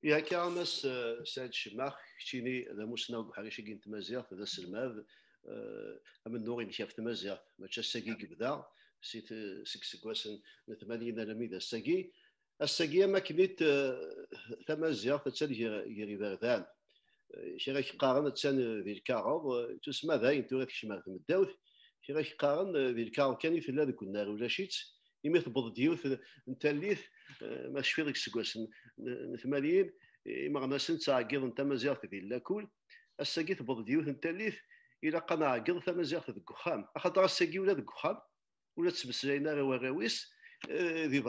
Yak amas Saɛid Cemmax, keččini d amussnaw deg uḥric-agi n tmaziɣt, d aselmad, amennuɣ inek ɣef tmaziɣt, mačči ass-agi i yebda, seg seggasen n tmanyin alammi d ass-agi. Ass-agi am akken it tamaziɣt attan gar iberdan. Kra k-qqaren attan di lkaɣeḍ, tusma dayen tura tekcem ar tmeddawt. Kra k-qqaren di lkaɣeḍ kan i tella deg unnar ulac-itt, imi tewweḍ-d yiwet n tallit, ma tecfiḍ deg yiseggasen n tmanyin, imeɣnasen ttɛeggiḍen tamaziɣt di llakul. Ass-agi tewweḍ-d yiwet n tallit, ilaq ad nɛeggeḍ tamaziɣt deg uxxam. Axaṭer ass-agi ula deg uxxam ur la ttmeslayen ara warraw-is eh, di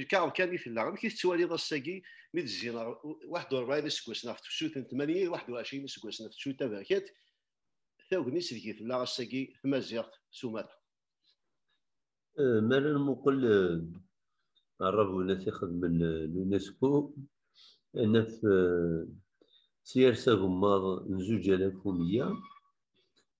lkaɣeḍ kan i tella amek i tettwaliḍ ass-agi mi d-zzin waḥed u rebɛin iseggasen ɣef tefsut n tmanyin d waḥed u ɛecrin iseggasen ɣef tefsut taberkant tagnit deg tella ass-agi tmaziɣt s umata eh, mi ara nmuqel aṛabunat eh, ixedmen l'UNESCO naf s yers agemmaḍ n zuǧ alaf u meyya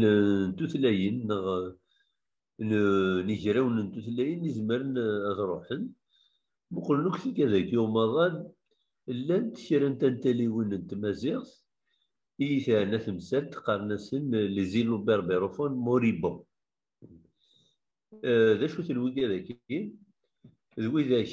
n tutlayin neɣ n igrawen n tutlayin izemren ad ruḥen muqlen akk tikadagi umaḍal llant kra n tantaliwin n tmaziɣt i yi-teɛna temsalt qqaren-asen les îlots berbérofônes moribonds d acu-ten wigadagi d widak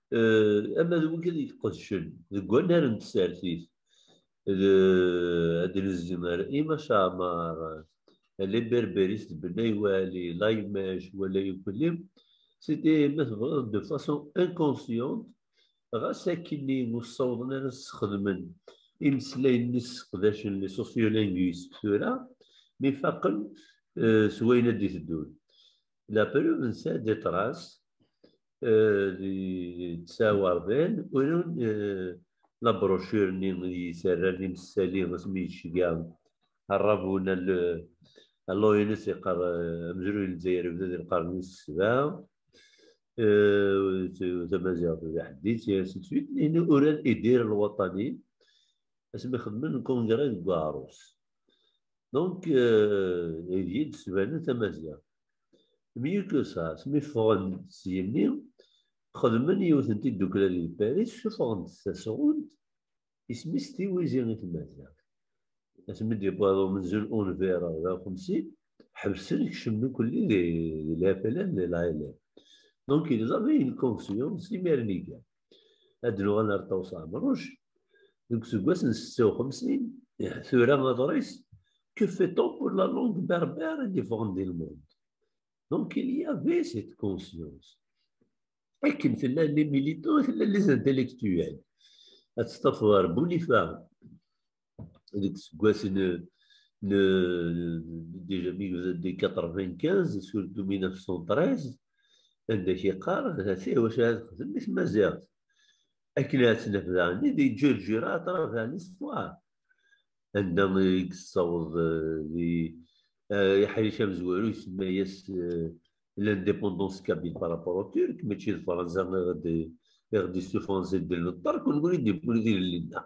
eh, ama d wigi i tqedcen deg wannar n tsertit ad nezmer ima caɛmar liberberis de benay wali laymej wala yukli c'était ma tebɣiḍ de façon inconsciente ɣas akkenni ur ssawḍen ara sexdmen imeslayen-nni sseqdacen les sociolinguistes tura mi faqen eh, s wayen ad d-iteddun la preuve nsa des traces yettawardin urun labrochur-nni yettarran imessali asmi yecga arrabun alloynes yeqqar amezruy n Lezzayer yebda di lqern wis sebɛa tamaziɣt d aḥeddit situit uran idir lwaṭani asmi xedmen lkungra deg uɛrus donc igi d-sbanen tamaziɣt Myucosas, mi ffɣen s yimi, xedmen yiwet n tiddukla di Paris, suffɣen-d tasɣunt, isem-is Tiwizi i tmaziɣt. Asmi d-yewweḍ umenzu n unbir ɣer xemsi, ḥebsen kcem nekkeli di Lhapala n Lɛilem. Donc ils avaient une confiance imernigane. ad d-nuɣal ar Ṭawes Ɛemruc deg useggas n setta u xemsin tura aḍris que fait on pour la langue berbère et différente du monde donc il y avait cette conscience akken tella les militants tella les intellectuels ad testafeḍ ar Boulifa deg useggas n déjà 1995 surtout 1913 anda kieqar hati wacu ad xdem i tmaziɣt akken ad tnaf daɣni di ǧirǧira aṭraf daɣni sṭwar anda i yessaweḍ di iḥric amezwaru isemma-yas l'indépendance kabyle par rapport au turc mačči d Fransa i ɣ-d-issufɣen si ddel n ṭṭerk ur nekni d-yewwin tilelli-nneɣ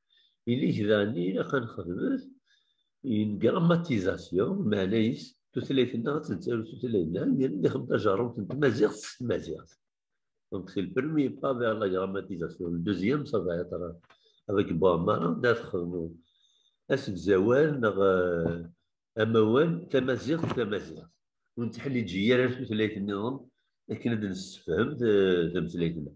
Il est daani ilaq ad nexdmet une grammatisation meɛna-is tutlayt-nneɣ ad tettaru tutlayt-nneɣ imir n ixem tajerrumt n tmaziɣt s tmaziɣt donc c'est le premier pas vers la grammatisation le deuxième ça va être avec Boamara d ad xedmu asegzawal neɣ amawal tamaziɣt tamaziɣt ur netteḥliǧi ara tutlayt-nniḍen akken ad nessefhem tameslayt-nneɣ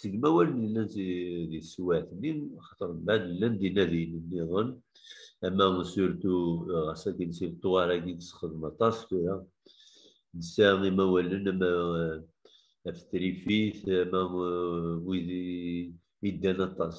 seg mawalen yellan di teswiɛt-nni xaṭer mbaɛd llan d inadiyen nniḍen ama surtu ɣas akin si leṭwar-agi nessexdem aṭas tura nesɛa imawalen ama af trifit ama wid iddan aṭas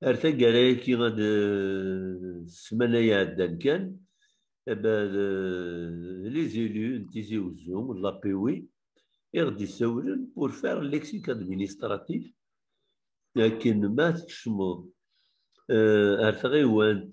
Ar taggara-agi, ad ssmana iɛeddan kan, les élus n Tizi Uzzu, n Lapiwi, i ɣ-d-isawlen pour faire le lexique administratif akken ma tkecmeḍ ar tɣiwant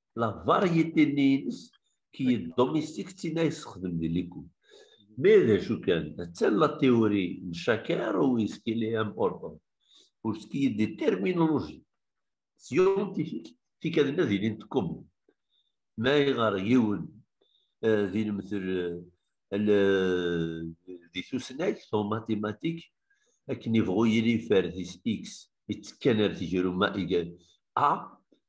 la variété nni ines qui est domestique tina yessexdem di likud mais d acu kan attan la théorie n chacun ou est-ce qu'il est important pour ce qui est des terminologies scientifiques tikadna d ilin tkum ma iɣer yiwen d ilmetel di tusnakt en mathématiques akken yebɣu yili yeffer di x yettekkan ar tejruma igal a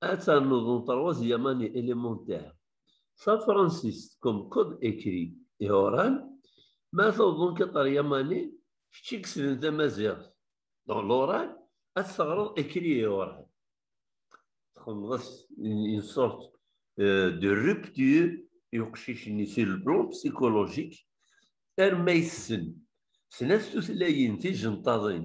ad ternuḍ un troisième année élémentaire tafransist comme code écrit et oral ma tawḍeḍ quatrième année kečč i yeslen tamaziɣt dans l'oral ad teɣreḍ écrit et oral txedmeḍ une sorte euh, de rupture i uqcic-nni sur le plan psychologique arma yessen snat tutlayin tijenṭaḍin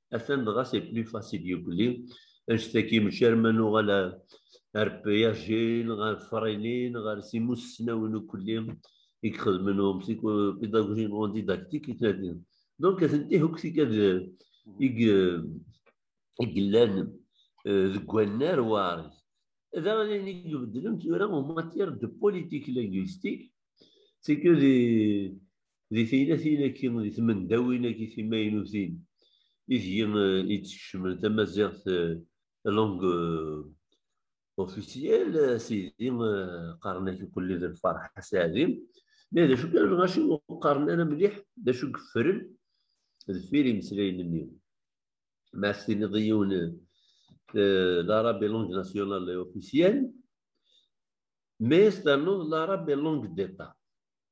atan dɣa c'est plus facile yugli anect-agi mačči arma nuɣal ar piyajin ɣer fraynin ɣer simussnawen ukulli i yexedmen um pédagogie non didactique i tnadin donc atenti akk tikad i yellan deg wannar waris da ayen i ibeddlen tura en matière de politique linguistique c'est que les Di teylatin-agi, di tmendawin-agi timaynutin, ideg i d-skecmen tamaziɣt langue officielle, sidi qqaren-ak uqellid lferḥ asaɛdi. Ma d acu kan, ɣaci ur qqaren ara mliḥ d acu yeffren deffir imeslayen-nni. Ma ad s-tiniḍ i yiwen l'arabe est langue nationale et officielle, mais ternuḍ l'arabe est langue d'État.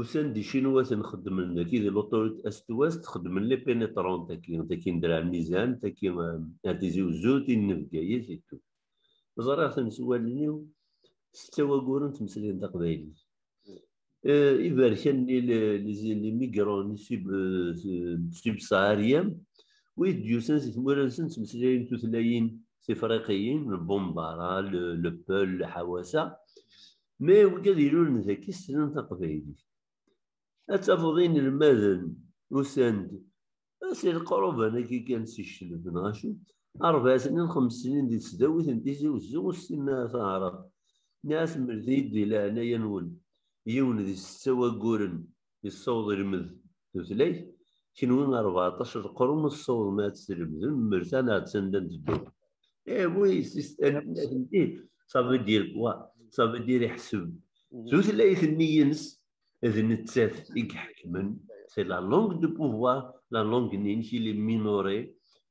Usan d icinwaten xeddmen daki di l'autorité est-ouest xeddmen les pénétrants taki taki n Draɛ Mizan taki ar Tizi Uzzu tin n Bgayet et tout ẓriɣ-ten s wallen-iw setta wayyuren ttmeslayen taqbaylit iberkan-nni les migrants subsahariens wid d-yusan si tmura-nsen ttmeslayen tutlayin tifriqiyin lbumdara lepel ḥawasa ma iwjad ilulen dagi slan taqbaylit. Ad tafeḍ inelmaden usan-d si leqruban-agi kan si Ccelb neɣ acu, ṛebɛa snin, xems snin di tesdawit n Tizi Uzzu ur ssinen ara taɛrabt. Nniɣ-asen mlet-iyi-d di leɛnaya-nwen yiwen di setta wagguren yessaweḍ ilmed tutlayt, kenwi rbeɛṭac leqrun ur tessawḍem ad tlemdem, mer tana attan la nteddu. Eh oui, atenti, ça veut dire quoi? Ça veut dire iḥseb. Mhm. Tutlayt-nni-ines d nettat i iḥekmen, c'est la langue de pouvoir, la langue-nni-inek il est minoré,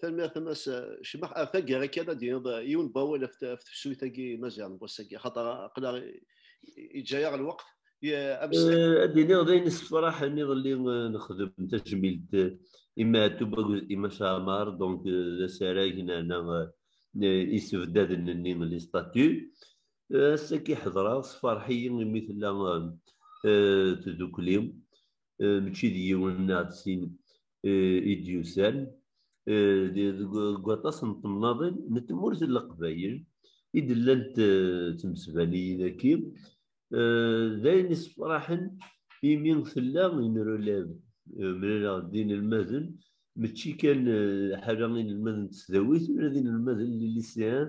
tanemmirt a mass cmax ar taggara kan ad d-yiniḍ yiwen n wawal ɣef tefsut-agi n Maziɣ n wass-agi axaṭer aql-aɣ yeǧǧa-aɣ lweqt ad d-iniɣ d ayen issefraḥen iḍelli nexdem tajmilt i Maɛtub akked i Maca Amar donc d asarag nerna isebdaden-nni li statu ass-agi ḥedreɣ sferḥ-iyi imi tella tdukli eh, mačči d yiwen neɣ d sin eh, i d-yusan eh, deg waṭas n temnaḍin n tmurt n leqbayel i d-llant tmesbaniyin aki d ayen isefraḥen imi tella inrulab mlaleɣ d inelmaden mačči kan ḥala inelmaden n tesdawit ula d inelmaden n lilisean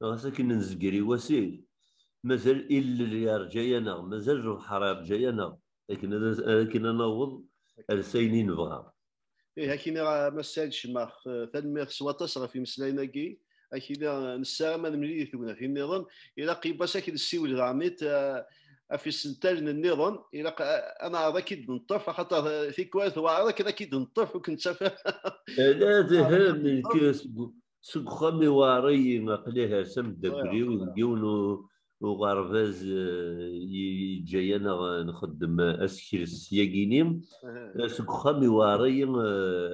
Ɣas akken nezger i wasif, mazal illel yerǧa-yaneɣ, mazal lebḥer yerǧa-yaneɣ akken ad akken ad naweḍ ar s ayen i nebɣa. Ih, akini a Massa Ed Cmax, tanemmirt s waṭas ɣef imeslayen-agi. Akini nessaram ad nemlil i tegnatin niḍen. Ilaq i Bassa ad nessiwel daɣen ɣef isental niḍen. Ilaq ad neɛreḍ ad k-id-neṭṭef axaṭer tikwal tewɛeṛ akken ad k-id-neṭṭef ur k-nettaf ara. Ala, d ahem, nekk seg seg uxxam i waɛṛi aql-i hers am ddakkriw deg yiwen uɣerbaz yeǧǧa-yaneɣ nxeddem asekres yagini seg uxxam i waɛṛi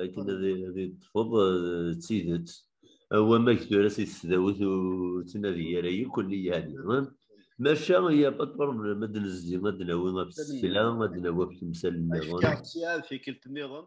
akken ad yeṭṭfeḍ d tidet wamak tura si tesdawit ur ttnadi ara yakk nni yani maca ya pas problème ad nezdi ad nawi ɣef tsekla ad nawi ɣef temsal nniḍen. Ad k-id-sɛiɣ tikkelt nniḍen.